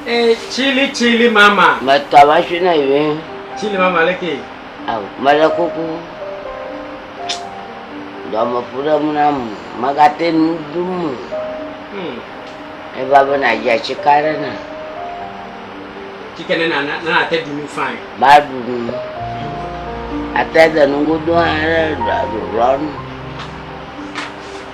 Eh, chili chili mama. Mɛ tɔ ma tsi na yi wɛn. Chili mama lɛ ke. Awo mɛ lɛ kuku. Dɔmɛ fu ɖe mu na mu. Mɛ ka te nu du mu. Hmm. Eva be na dza tsi ka ɖe na. Tsi ke ne na na na te du nu fain. Ba du nu. Ate de nu godo aɖe ɖɔ ɖɔ nu.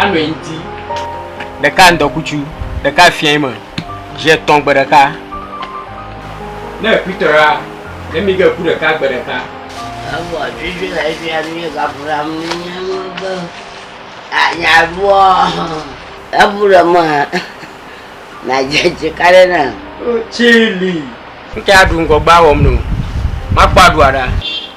anɔ anyi ti ɖeka ŋdɔkutsu ɖeka fiɛ me zi etɔ̃ gbe ɖeka ne ekuitɔra ne mi ge ku ɖeka gbe ɖeka. Egbɔ tutu le fi ya mi gafura mi nya nu be anya bɔ ebu ɖe me na dzedze ka ɖe na. Tsili. Ŋkɛ aɖu ŋgɔgba wɔm no. Makpɔ aɖua ɖa.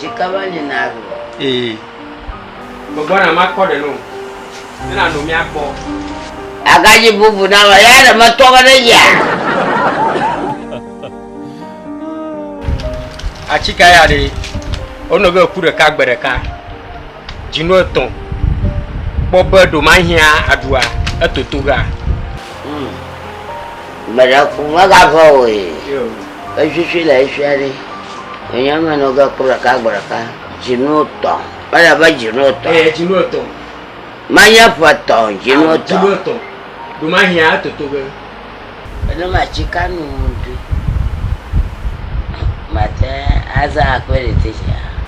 Sika va li na alo. Ee. Gbɔgbɔ na makpɔ ɖe no. Ne na no mia kpɔ. Aga dzi bubu na ma ya ɖe me tɔ me ɖe ya. Atsika ya ɖe. Ono ge ku ɖeka gbe ɖeka. dzinu etɔ̃ kpɔ be ɖo mahiã aɖua etoto ga. Hmm. Mele ku megavɔ o ye. Efifi le efia ɖi. Enye me nɔ ge kpɔ ɖeka gbɔ ɖeka. Dzinu etɔ̃. Mele be dzinu etɔ̃. Ee, dzinu etɔ̃. Mahiã ƒe etɔ̃, dzinu etɔ̃. Dzinu etɔ̃. Ɖo mahiã etoto ge. Eno matsi kanu ɖu. Mate aza akpɛ ɖe te tsia.